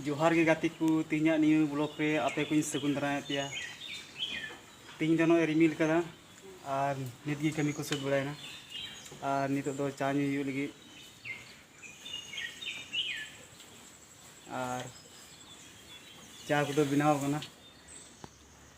ᱡᱚᱦᱟᱨ ᱜᱮ ᱜᱟᱛᱮ ᱠᱚ ᱛᱮᱦᱮᱧᱟᱜ ᱱᱤᱭᱟᱹ ᱵᱞᱚᱜ ᱨᱮ ᱟᱯᱮ ᱠᱚᱧ ᱥᱟᱹᱜᱩᱱ ᱫᱟᱨᱟᱭᱮᱫ ᱯᱮᱭᱟ ᱛᱮᱦᱮᱧ ᱫᱚ ᱱᱚᱜᱼᱚᱭ ᱨᱤᱢᱤᱞ ᱠᱟᱫᱟ ᱟᱨ ᱱᱤᱛ ᱜᱮ ᱠᱟᱹᱢᱤ ᱠᱚ ᱥᱟᱹᱛ ᱵᱟᱲᱟᱭᱮᱱᱟ ᱟᱨ ᱱᱤᱛᱚᱜ ᱫᱚ ᱪᱟ ᱧᱩ ᱦᱩᱭᱩᱜ ᱞᱟᱹᱜᱤᱫ ᱟᱨ ᱪᱟ ᱠᱚᱫᱚ ᱵᱮᱱᱟᱣ ᱠᱟᱱᱟ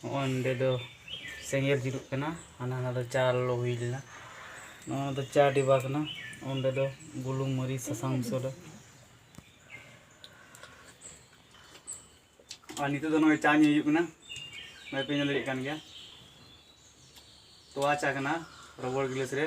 ᱱᱚᱜᱼᱚᱭ ᱱᱚᱸᱰᱮ ᱫᱚ ᱥᱮᱸᱜᱮᱞ ᱡᱩᱞᱩᱜ ᱠᱟᱱᱟ ᱦᱟᱱᱟ ᱦᱟᱱᱟ ᱫᱚ ᱪᱟ ᱞᱚᱞᱚ ᱦᱩᱭ ᱞᱮᱱᱟ ᱱᱚᱣᱟ ᱫᱚ ᱪᱟ ᱰᱤᱵᱟ ᱠᱟᱱᱟ ᱚᱸᱰᱮ ᱫᱚ ᱵᱩᱞᱩᱝ ᱢᱟᱹᱨᱤᱪ ᱥᱟᱥᱟᱝ ᱢᱚᱥᱞᱟ ᱟᱨ ᱱᱤᱛᱚᱜ ᱫᱚ ᱱᱚᱜᱼᱚᱭ ᱪᱟ ᱧᱩ ᱦᱩᱭᱩᱜ ᱠᱟᱱᱟ ᱱᱚᱜᱼᱚᱭ ᱯᱮ ᱧᱮᱞ ᱫᱟᱲᱮᱭᱟᱜ ᱠᱟᱱ ᱜᱮᱭᱟ ᱛᱚᱣᱟ ᱪᱟ ᱠᱟᱱᱟ ᱨᱚᱵᱚᱲ ᱜᱤᱞᱟᱹᱥ ᱨᱮ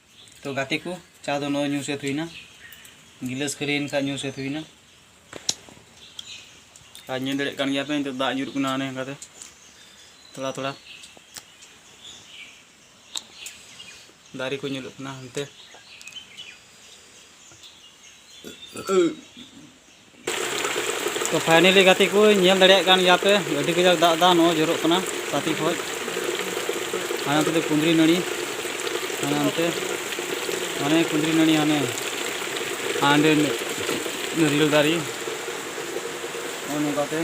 ᱛᱚ ᱜᱟᱛᱮ ᱠᱚ ᱪᱟ ᱫᱚ ᱱᱚᱜᱼᱚᱭ ᱧᱩ ᱥᱟᱹᱛ ᱦᱩᱭᱱᱟ ᱜᱤᱞᱟᱹᱥ ᱠᱷᱟᱹᱞᱤᱭᱮᱱ ᱠᱷᱟᱱ ᱧᱩ ᱥᱟᱹᱛ ᱦᱩᱭᱱᱟ ᱟᱨ ᱧᱮᱞ ᱫᱟᱲᱮᱭᱟᱜ ᱠᱟᱱ ᱜᱮᱭᱟ ᱯᱮ ᱱᱤᱛᱚᱜ ᱫᱟᱜ ᱧᱩᱨᱩᱜ ᱠᱟᱱᱟ ᱚᱱᱮ ᱚᱱᱠᱟᱛᱮ ᱛᱷᱚᱲᱟ ᱛᱷᱚᱲᱟ ᱫᱟᱨᱮ ᱠᱚ ᱧᱮᱞᱚᱜ ᱠᱟᱱᱟ ᱦᱟᱱᱛᱮ ᱛᱚ ᱯᱷᱟᱭᱱᱮᱞᱤ ᱜᱟᱛᱮ ᱠᱚ ᱧᱮᱞ ᱫᱟᱲᱮᱭᱟᱜ ᱠᱟᱱ ᱜᱮᱭᱟ ᱯᱮ ᱟᱹᱰᱤ ᱠᱟᱡᱟᱠ ᱫᱟᱜ ᱫᱟ ᱱᱚᱜᱼᱚᱭ ᱡᱚᱨᱚᱜ ᱠᱟᱱᱟ ᱥᱟᱛᱤ ᱠᱷᱚᱡ ᱦᱟᱱᱮ ᱚᱱᱛᱮ ᱫᱚ ᱠᱩᱸᱫᱽᱨᱤ ᱱᱟᱹᱲᱤ ᱦᱟᱱᱮ ᱚᱱᱛᱮ ᱦᱟᱱᱮ ᱠᱩᱸᱫᱽᱨᱤ ᱱᱟᱹᱲᱤ ᱦᱟᱱᱮ ᱦᱟᱸᱰᱮ ᱱᱟᱹᱨᱤᱭᱟᱹᱞ ᱫᱟᱨᱮ ᱱᱚᱜᱼᱚᱭ ᱱᱚᱝᱠᱟᱛᱮ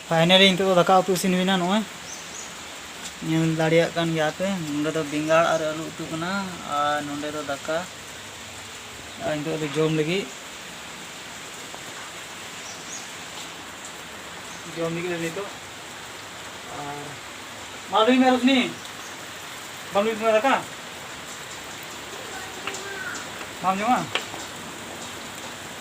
ᱯᱷᱟᱭᱱᱟᱞᱤ ᱱᱤᱛᱚᱜ ᱫᱚ ᱫᱟᱠᱟ ᱩᱛᱩ ᱤᱥᱤᱱ ᱦᱩᱭᱱᱟ ᱱᱚᱜᱼᱚᱭ ᱧᱮᱞ ᱫᱟᱲᱮᱭᱟᱜ ᱠᱟᱱ ᱜᱮᱭᱟ ᱯᱮ ᱱᱚᱰᱮ ᱫᱚ ᱵᱮᱸᱜᱟᱲ ᱟᱨ ᱟᱹᱞᱩ ᱩᱛᱩ ᱠᱟᱱᱟ ᱟᱨ ᱱᱚᱰᱮ ᱫᱚ ᱫᱟᱠᱟ ᱟᱨ ᱱᱤᱛᱚᱜ ᱫᱚ ᱡᱚᱢ ᱞᱟᱹᱜᱤᱫ ᱡᱚᱢ ᱞᱟᱹᱜᱤᱫ ᱞᱮ ᱱᱤᱛᱚᱜ ᱟᱨ ᱢᱟ ᱞᱟᱹᱭ ᱢᱮ ᱨᱚᱥᱱᱤ ᱵᱟᱢ ᱞᱟᱹᱭ ᱛᱟᱢᱟ ᱫᱟᱠᱟ ᱵᱟᱢ ᱡᱚᱢᱟ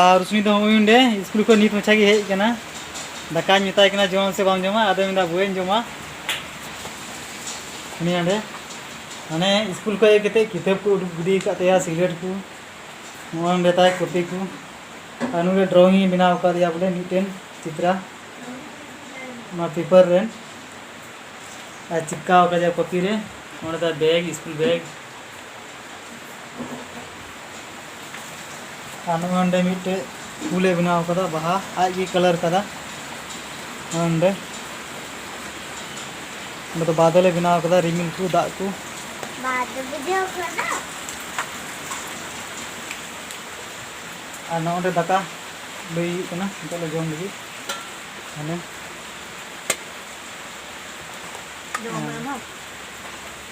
ᱟᱨ ᱨᱩᱥᱢᱤ ᱫᱚ ᱦᱚᱸᱜᱼᱚᱭ ᱚᱸᱰᱮ ᱥᱠᱩᱞ ᱠᱷᱚᱱ ᱱᱤᱛ ᱢᱟᱪᱷᱟ ᱜᱮ ᱦᱮᱡ ᱟᱠᱟᱱᱟ ᱫᱟᱠᱟᱧ ᱢᱮᱛᱟᱭ ᱠᱟᱱᱟ ᱡᱚᱢᱟᱢ ᱥᱮ ᱵᱟᱢ ᱡᱚᱢᱟ ᱟᱫᱚᱭ ᱢᱮᱱᱫᱟ ᱵᱳᱭᱮᱧ ᱡᱚᱢᱟ ᱩᱱᱤ ᱚᱸᱰᱮ ᱢᱟᱱᱮ ᱥᱠᱩᱞ ᱠᱷᱚᱱ ᱦᱮᱡ ᱠᱟᱛᱮᱫ ᱠᱤᱛᱟᱹᱵ ᱠᱚ ᱩᱰᱩᱠ ᱜᱤᱰᱤ ᱟᱠᱟᱫ ᱛᱟᱭᱟ ᱥᱤᱜᱟᱨᱮᱴ ᱠᱚ ᱱᱚᱣᱟ ᱚᱸᱰᱮ ᱛᱟᱭ ᱠᱚᱯᱤ ᱠᱚ ᱟᱨ ᱱᱚᱰᱮ ᱰᱨᱚᱭᱤᱝ ᱤᱧ ᱵᱮᱱᱟᱣ ᱟᱠᱟᱫᱮᱭᱟ ᱵᱚᱞᱮ ᱢᱤᱫᱴᱮᱱ ᱪᱤᱛᱨᱟ ᱱᱚᱣᱟ ᱯᱮᱯᱟᱨ ᱨᱮ ᱟᱨ ᱪᱤᱯᱠᱟᱣ ᱟᱠᱟᱫᱮᱭᱟ ᱠᱚᱯᱤ ᱨᱮ ᱚᱸᱰᱮ ᱛᱟᱭ ᱵᱮᱜᱽ ᱥᱠᱩᱞ ᱵᱮᱜᱽ ᱟᱨ ᱱᱚᱜᱼᱚᱭ ᱚᱸᱰᱮ ᱢᱤᱫᱴᱮᱡ ᱯᱷᱩᱞᱮ ᱵᱮᱱᱟᱣ ᱟᱠᱟᱫᱟ ᱵᱟᱦᱟ ᱟᱡ ᱜᱮ ᱠᱟᱞᱟᱨ ᱟᱠᱟᱫᱟ ᱱᱚᱜᱼᱚᱭ ᱚᱸᱰᱮ ᱚᱸᱰᱮ ᱫᱚ ᱵᱟᱫᱚᱞᱮ ᱵᱮᱱᱟᱣ ᱟᱠᱟᱫᱟ ᱨᱤᱢᱤᱞ ᱠᱚ ᱫᱟᱜ ᱠᱚ ᱟᱨ ᱱᱚᱜᱼᱚᱭ ᱚᱸᱰᱮ ᱫᱟᱠᱟ ᱞᱟᱹᱭ ᱦᱩᱭᱩᱜ ᱠᱟᱱᱟ ᱱᱤᱛᱚᱜ ᱞᱮ ᱡᱚᱢ ᱞᱟᱹᱜᱤᱫ ᱦᱟᱱᱮ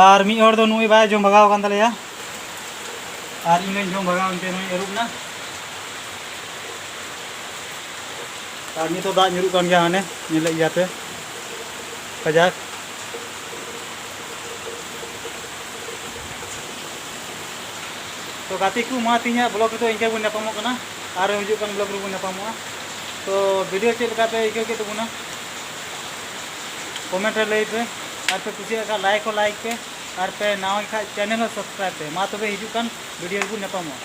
ᱟᱨ ᱢᱤᱫ ᱦᱚᱲ ᱫᱚ ᱱᱩᱭ ᱵᱟᱭ ᱡᱚᱢ ᱵᱷᱟᱜᱟᱣ ᱠᱟᱱ ᱛᱟᱞᱮᱭᱟ ᱟᱨ ᱤᱧ ᱦᱚᱸᱧ ᱡᱚᱢ ᱵᱷᱟᱜᱟᱣ ᱮᱱᱛᱮ ᱱᱩᱭ ᱟᱹᱨᱩᱵ ᱮᱱᱟ ᱟᱨ ᱱᱤᱛᱚᱜ ᱫᱟᱜ ᱧᱩᱨᱩᱜ ᱠᱟᱱ ᱜᱮᱭᱟ ᱦᱟᱱᱮ ᱧᱮᱞᱮᱫ ᱜᱮᱭᱟ ᱯᱮ ᱠᱟᱡᱟᱠ ᱛᱚ ᱜᱟᱛᱮ ᱠᱚ ᱢᱟ ᱛᱮᱦᱮᱧᱟᱜ ᱵᱞᱚᱜ ᱨᱮᱫᱚ ᱤᱱᱠᱟᱹ ᱵᱚᱱ ᱧᱟᱯᱟᱢᱚᱜ ᱠᱟᱱᱟ ᱟᱨ ᱦᱤᱡᱩᱜ ᱠᱟᱱ ᱵᱞᱚᱜ ᱨᱮᱵᱚᱱ ᱧᱟᱯᱟᱢᱚᱜᱼᱟ ᱛᱚ ᱵᱷᱤᱰᱤᱭᱳ ᱪᱮᱫ ᱞᱮᱠᱟ ᱯᱮ ᱟᱹᱭᱠᱟᱹᱣ ᱠᱮᱫ ᱛᱟᱵᱚᱱᱟ ᱠᱚᱢᱮᱱᱴ ᱨᱮ ᱞᱟᱹᱭ ᱯᱮ ᱟᱨ ᱯᱮ ᱠᱩᱥᱤᱭᱟᱜ ᱠᱷᱟᱱ ᱞᱟᱭᱤᱠ ᱦᱚᱸ ᱞᱟᱭᱤᱠ ᱯᱮ ᱟᱨ ᱯᱮ ᱱᱟᱣᱟ ᱠᱷᱟᱱ ᱪᱮᱱᱮᱞ ᱦᱚᱸ ᱥᱟᱵᱥᱠᱨᱟᱭᱤᱵ ᱯᱮ ᱢᱟ ᱛᱚᱵᱮ ᱦᱤᱡᱩᱜ ᱠᱟᱱ ᱵᱷᱤᱰᱤᱭᱳ ᱨᱮᱵᱚᱱ ᱧᱟᱯᱟᱢᱚᱜᱼᱟ